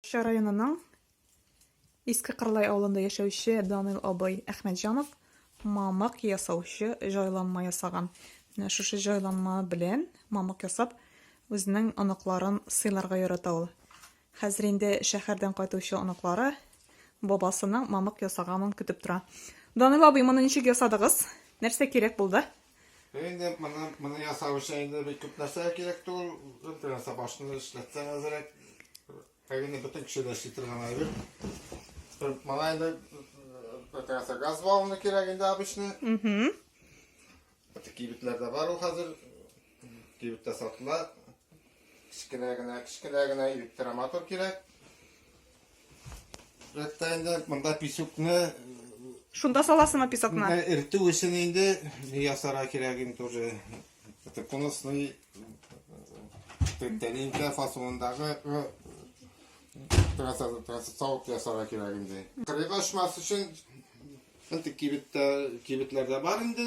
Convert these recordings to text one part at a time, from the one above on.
Ча районының Иске Кырлай авылында яшәүче Данил абый Әхмәтҗанов мамык ясаучы җайланма ясаган. Менә шушы җайланма белән мамык ясап, үзенең оныкларын сыйларга ярата ул. Хәзер инде шәһәрдән кайтучы оныклары бабасының мамык ясаганын көтеп тора. Данил абый, моны ничек ясадыгыз? Нәрсә кирәк булды? Инде моны, моны ясау өчен инде бик күп нәрсә кирәк түгел. Бер сабашны эшләтсәң әзрәк. Әгене бөтен кеше дә эшли торган әйбер. Моңа инде бөтенесе газ баллоны кирәк инде обычный. Угу. Кибетләрдә бар ул хәзер. Кибеттә сатыла. Кечкенә генә, кечкенә генә электромотор кирәк. Рәттә инде монда песокны Шунда саласыңмы песокны? Ә, Эртү өчен инде ясара кирәк инде уже. Это конусный тәлинкә фасондагы э, савыт ясара кирәк инде. Кырыйга очмас өчен инде кибеттә кибетләрдә бар инде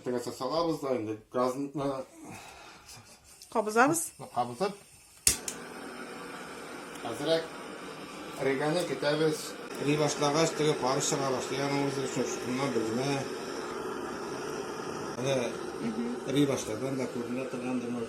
Әтәгәсә салабыз да инде газны кабызабыз. Кабызып. Хәзрәк риганы китәбез. Ри башлагач теге пар чыга башлый аның үзе өчен шуннан белмә. Әнә ри башлаган да күренә торгандыр.